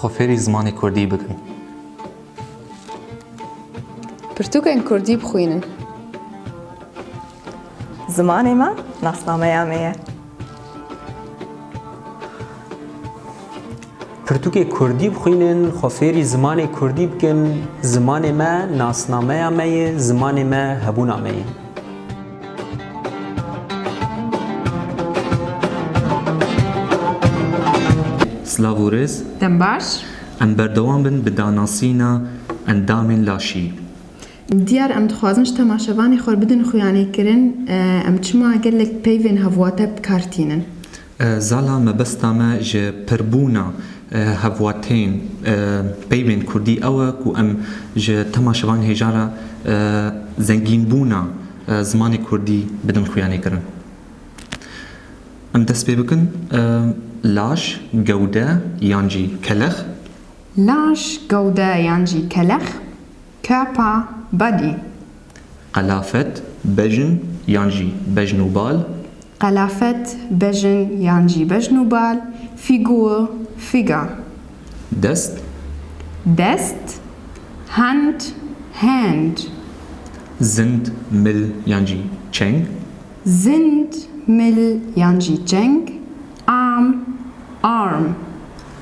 Xwe fêrî zimanê kurdî bikin. Pirtûkên kurdî bixwînin. Zimanê me nasnameya me ye. Pirtûkê kurdî bixwînin, xwe fêrî zimanê kurdî bikin. Zimanê me nasnameya me ye, zimanê me hebûna me ye. Silav û rêz. Dem baş. Em berdewam bin bi danasîna endamên laşî. Diyar em dixwazin ji temaşevanê xwe bidin xuyanêkirin em çima gelek peyvên hevwate bi kar tînin. Zala mebesta me ji pirbûna hevwateyên peyvên kurdî ew e ku em ji tema şevan hêja re zengînbûna zimanê kurdî bidin xuyanêkirin. Em dest pê bikin laş, gewde yan jî kelex. Laş, gewde yan jî kelex Kapa badî. Qelafet, bejn yan jî bejn û bal. Qelafet, bejn yan jî bejn û bal, fîgur, figure. Dest. Dest, hand, hand. Zind, mil yan jî çeng. Zind, mil yan jî çeng, arm, arm.